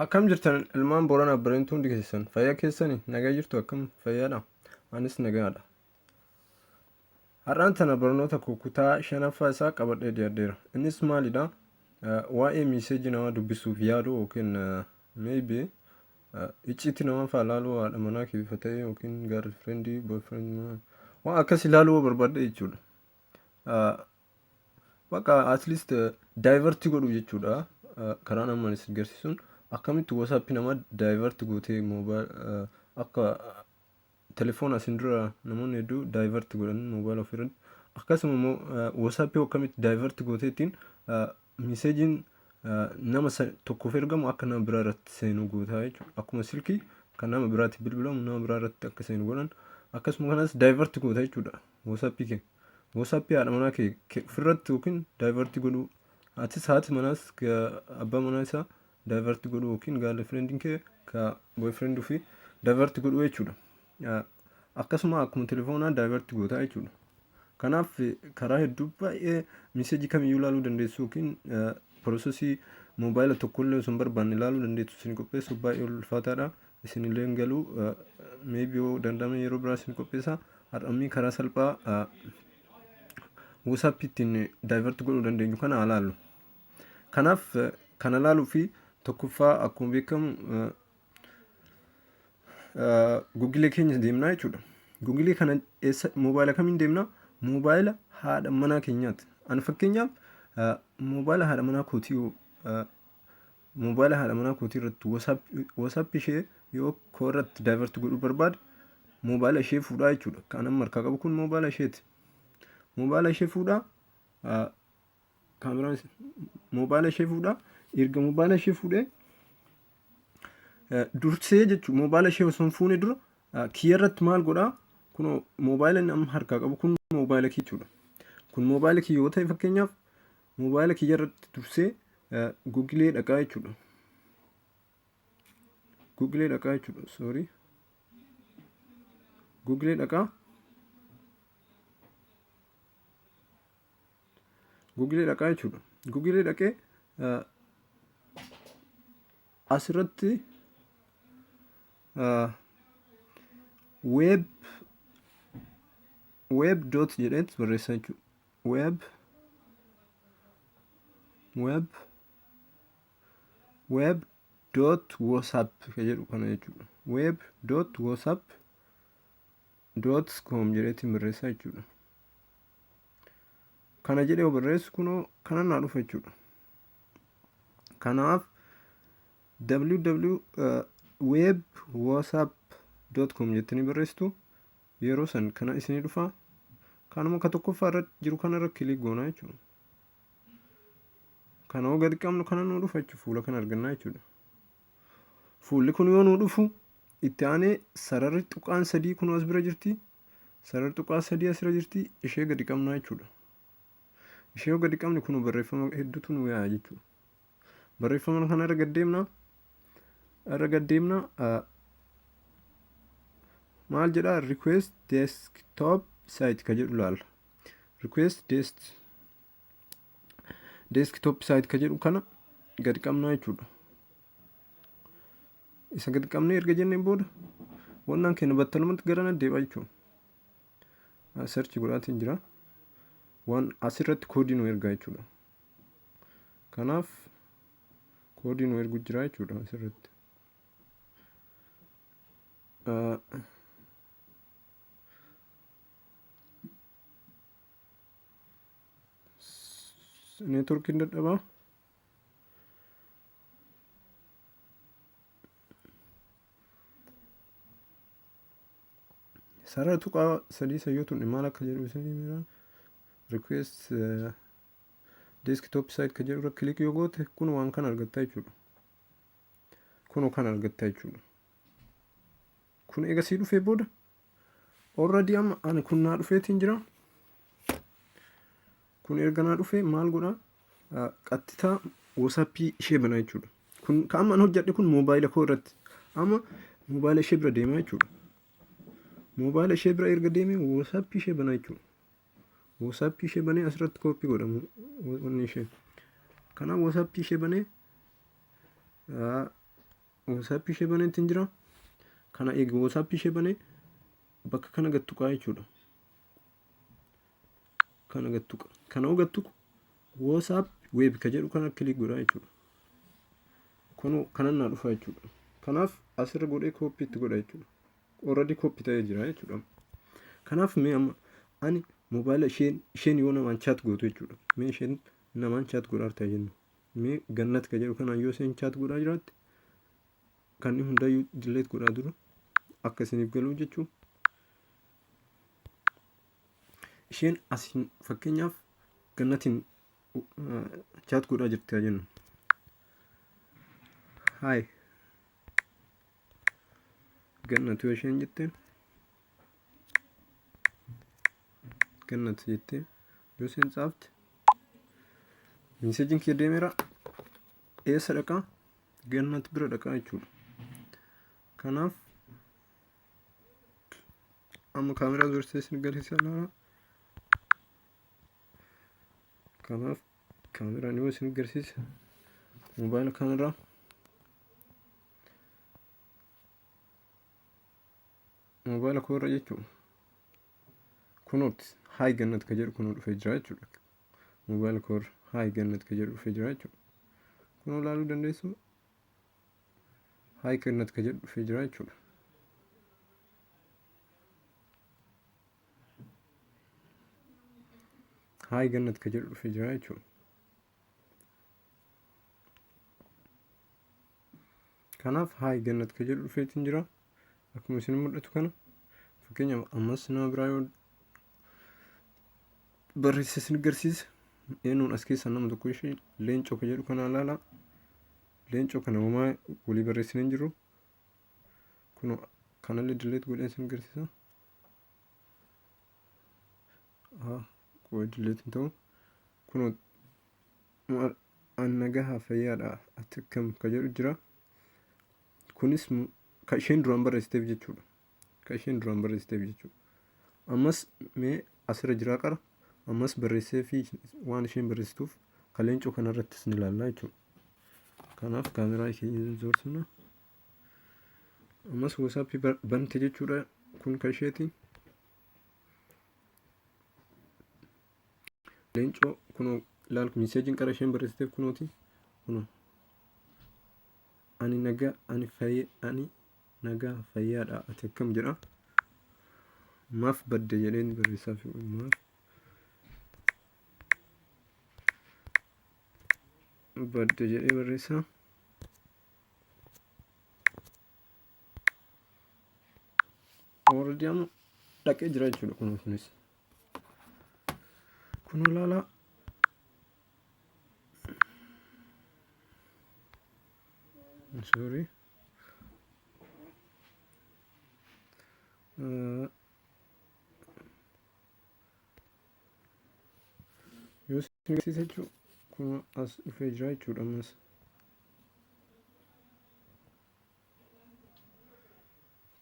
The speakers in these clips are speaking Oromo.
Akkam jirtan ilmaan Booranaa Bareentuu hundi keessan fayyaa keessanii nagaa jirtu akkam fayyaadha anis nagaadha. Har'aan tana barnoota koo kutaa shanaffaa isaa qabadhee dhiyaadheera. Innis maalidha? Eh, Waa'ee miiseejii namaa dubbisuuf yaadu yookiin eh, maybe Icciitti namaafaa laaluu haadha manaa kee bifa ta'e yookiin gaarri firendii boyfriend maa waan akkas ilaaluu yoo barbaadde jechuudha. Ah, Bakka at least daayivarti godhu jechuudha. Ah, Karaan ammaan isin garsiisuun akkamitti wasaappi namaa daayivarti gootee moobaayil akka telefoona asin dura namoonni hedduu divert godhan mobile of irratti akkasuma immoo whatsapp akkamitti divert gooteettiin miseejiin nama tokkoof ergamu akka nama biraa irratti seenu gootaa jechuudha akkuma silkii kan nama biraatti bilbilamu nama biraa irratti akka seenu godhan akkasuma kanas divert goota jechuudha whatsapp kee whatsapp haadha manaa kee ofirratti yookiin divert godhuu atis haati manaas abbaa manaa isaa divert godhu yookiin girlfriend kee ka boyfriend fi divert godhu jechuudha. Ah, Akkasuma akkuma telefoonaa divert goota jechuudha. Kanaaf eh, karaa hedduu baay'ee miseejii kamiyyuu ilaaluu dandeessu yookiin eh, prosesii moobaayila tokkollee osoo hin barbaanne ilaaluu dandeessu isin qopheessuuf baay'ee ulfaataadha. Isinillee hin galu eh, maybe yoo danda'ame yeroo biraa isin qopheessa. Har'ammii karaa salphaa eh, WhatsApp ittiin divert godhuu dandeenyu kana haa laallu. Kanaaf kana ilaaluu fi tokkoffaa akkuma beekamu gugilee keenya deemnaa jechuudha. Gugilee kana eessa moobaayila kamiin deemnaa? Moobaayila haadha manaa keenyaati. Ani fakkeenyaaf moobaayila haadha manaa kootii moobaayila haadha manaa kootii irratti wasaappi ishee yoo koo irratti daayivarti godhuu barbaade moobaayila ishee fuudhaa jechuudha. Kan amma harkaa qabu kun moobaayila isheeti. Moobaayila ishee fuudhaa kaameraa moobaayila ishee fuudha. Erga moobaayila ishee fuudhee dursee jechuun moobaayila ishee osoo hin fuune dura kiyya irratti maal godhaa? Kun moobaayila inni amma harkaa qabu kun moobaayila kiyya jechuudha. Kun moobaayila kiyya yoo ta'e fakkeenyaaf moobaayila kiyya irratti dursee gugilee dhaqaa jechuudha. Gugilee dhaqaa jechuudha. Soorii. Gugilee dhaqaa. Guugilee dhaqaa jechuudha. Guugilee dhaqee asirratti weeb weeb doot jedheet barreessaa jechuudha. Weeb weeb weeb doot whatsapp ka jedhu kana jechuudha. Weeb doot whatsapp doot koom jedheetiin barreessaa jechuudha. kana jedhee yoo barreessu kunoo kana naa dhufa jechuudha kanaaf www web whatsapp com jettanii barreessitu yeroo san kana isinii dhufa kanuma ka tokkoffaa irra jiru kana irra kilik goona jechuudha kana yoo gadi qabnu kana nuu dhufa jechuudha fuula kana argannaa jechuudha fuulli kun yoo nuu dhufu itti aanee sararri tuqaan sadii kun as bira jirti Sarara tuqaa sadii asirra jirti ishee gadi qabnaa jechuudha. Ishee yoo gadi qabne kun barreeffama hedduutu nu yaa'a jechuudha. Barreeffama kana irra gad deemna. Irra gad deemna. Maal jedha request desktop site ka jedhu laalla. Request dest desktop site ka jedhu kana gad qabnaa jechuudha. Isa gad qabnee erga jenneen booda wannaan keenya battalumatti gara na deebi'a jechuudha. Search godhaatiin jira. Waan asirratti koodii nu ergaa jechuudha. Kanaaf koodii nu ergu jira jechuudha asirratti. Neetworkiin dadhabaa. Sarara tuqaa sadii sayyootuun maal akka jedhu isinii miira request eh, desktop site ka jedhu irra click yoo goote kun waan kan argattaa jechuudha. Kun kan argattaa jechuudha. Kun eega sii dhufee booda Already amma ani kun naa dhufeetiin jira. Kun erga naa dhufee maal godha? Qattitaa WhatsAppii ishee bana jechuudha. Kun kan amma an hojjedhe kun moobaayila koo irratti. Amma moobaayila ishee bira deema jechuudha. Moobaayila ishee bira erga deemee WhatsAppii ishee bana jechuudha. WhatsAppii ishee banee asirratti kooppii godhamu wanni ishee. Kanaaf WhatsAppii ishee banee WhatsApp ishee banee ittiin jira. Kana eegi WhatsApp ishee banee bakka kana gad tuqaa jechuudha. Kana gad tuqa. Kana hoo gad tuqu WhatsApp web ka jedhu kana kilik godhaa jechuudha. Kunoo kanan naa dhufaa jechuudha. Kanaaf asirra godhee kooppi itti godha jechuudha. Already kooppi ta'ee jira jechuudha. Kanaaf mee amma ani moobaayila isheen isheen yoo namaan chaat gootu jechuudha. Mee isheen namaan chaat godhaa jirti jennu. Mee gannat ka jedhu kanaan yoo isheen chaat godhaa jiraatte kan hundayyuu dilleet godhaa dura akka isiniif galuu jechuu. Isheen asiin fakkeenyaaf gannatiin chaat godhaa jirti haa jennu. Haay gannatu isheen jetteen kennat jettee yoo isheen tsaafte miiseejiin kee deemeera eessa dhaqaa gannat bira dhaqaa jechuudha kanaaf amma kaameraa dursee isin galchisa laala kanaaf kaameraan yoo isin garsiisa moobaayila kaameraa Moobaayila koo irra jechuun kunooti haay gannat ka jedhu kunoo dhufee jira jechuudha. Moobaayila koo irra haay gannat ka jedhu dhufee jira jechuudha. Kunoo ilaaluu dandeessu haay gannat ka jedhu dhufee jira jechuudha. Haay gannat ka jedhu dhufee jira jechuudha. Kanaaf haay gannat ka jedhu dhufeetiin jira. Akkuma isin mul'atu kana fakkeenyaaf ammas nama biraa yoo barreesse isin agarsiisa. Eenyuun as keessaa nama tokko ishee leencoo ka jedhu kana ilaala. Leencoo kana homaa walii barreessinee hin jiru. Kun kanallee dilleet godhee isin agarsiisa. Haa, qofa dilleet hin ta'u. Kun Maal an nagaha fayyaadha ati akkam ka jedhu jira. Kunis mu- ka isheen duraan barreessiteef jechuudha. Ka isheen duraan barreessiteef jechuudha. Ammas mee asirra jiraa qara. Ammas barreessee fi waan isheen barreessituuf ka leencoo kanarrattis ni ilaalla jechuudha. Kanaaf kaameraa keenya hin zoorsifna. Ammas WhatsApp bar- bante jechuudha. Kun ka isheeti. Leencoo kunoo laal miseejiin qara isheen barreessiteef kunooti kunoo. Ani nagaa ani fayyee ani nagaa fayyaadha ati akkam jedha. Maaf badde jedheen barreessaa fi maaf badde jedhee barreessaa. Already amma dhaqee jira jechuudha kunoo kunis. Kun ilaalaa. Sorry. Uh, yoo isin agarsiisa jechuun kun as dhufee jira jechuudha ammas.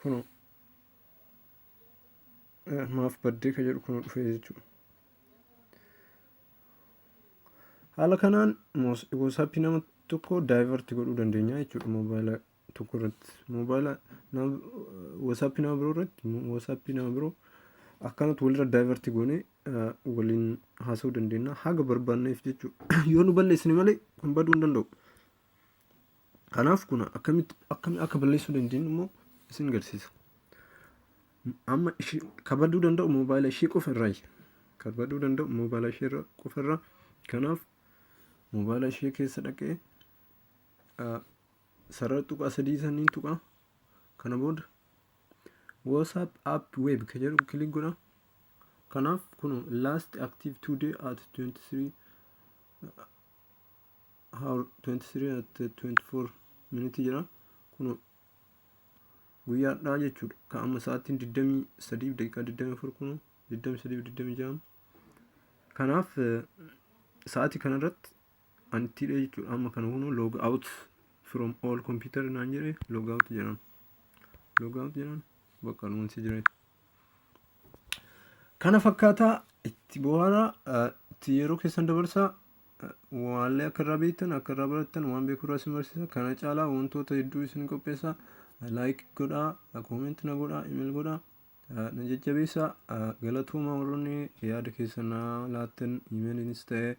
Kuno maaf baddee ka jedhu kuno dhufee jechuudha. Haala kanaan WhatsApp nama tokko daayivarti godhuu dandeenya jechuudha moobaayila tokko irratti. Moobaayila WhatsApp nama biroo irratti WhatsApp nama biroo akkanatti walirra daayivarti goonee waliin haasa'uu dandeenya haga barbaanneef jechuudha. Yoo nu balleessine malee kun baduu hin danda'u. Kanaaf kun akkamitti akkamitti akka balleessuu dandeenyu immoo isin agarsiisa. Amma ishii kabaduu danda'u moobaayila ishii qofa irraa kabaduu danda'u moobaayila ishii irra qofa irraa kanaaf moobaayila ishii keessa dhaqee ah, sarara tuqaa sadii saniin tuqaa kana booda WhatsApp app web ka jedhu kilik godha. Kanaaf kun last active today at 23 hour 23 at 24 minute jira kun guyyaadhaa jechuudha ka amma sa'aatiin 23 daqiiqaa 24 kun 23 26 kanaaf sa'aatii kanarratti an itti hidhee jechuudha amma kana kun log out from all computer naan jedhe log out jedhan log out jedhan bakka nuunsi jira kana fakkaataa itti bohaaraa itti yeroo keessan dabarsaa Waallee akka irraa beektan akka irraa barattan waan beeku irraa isin barsiisa kana caalaa wantoota hedduu isin qopheessa laayik godhaa koomenti na godhaa imel godhaa na jajjabeessa galatooma warroonni yaada keessan na laattan imeliinis ta'e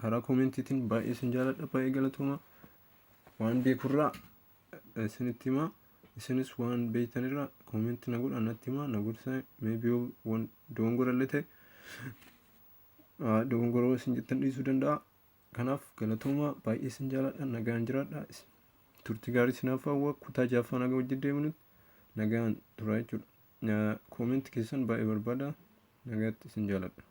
karaa koomentiitiin baay'ee isin jaaladha baay'ee galatooma waan beekurraa isinitti himaa isinis waan beektanirraa koomenti na godhaa natti himaa na gorsaa meebii waan doongorallee ta'e dogongoroo isin jettan dhiisuu danda'a. Kanaaf galatooma baay'ee isin jaaladha nagaan jiraadha. Turtii gaarii isinaaf hawwa kutaa jaaffaa nagaa wajjin deemnutti nagaan turaa jechuudha. Koomenti keessan baay'ee barbaada nagaatti isin jaaladha.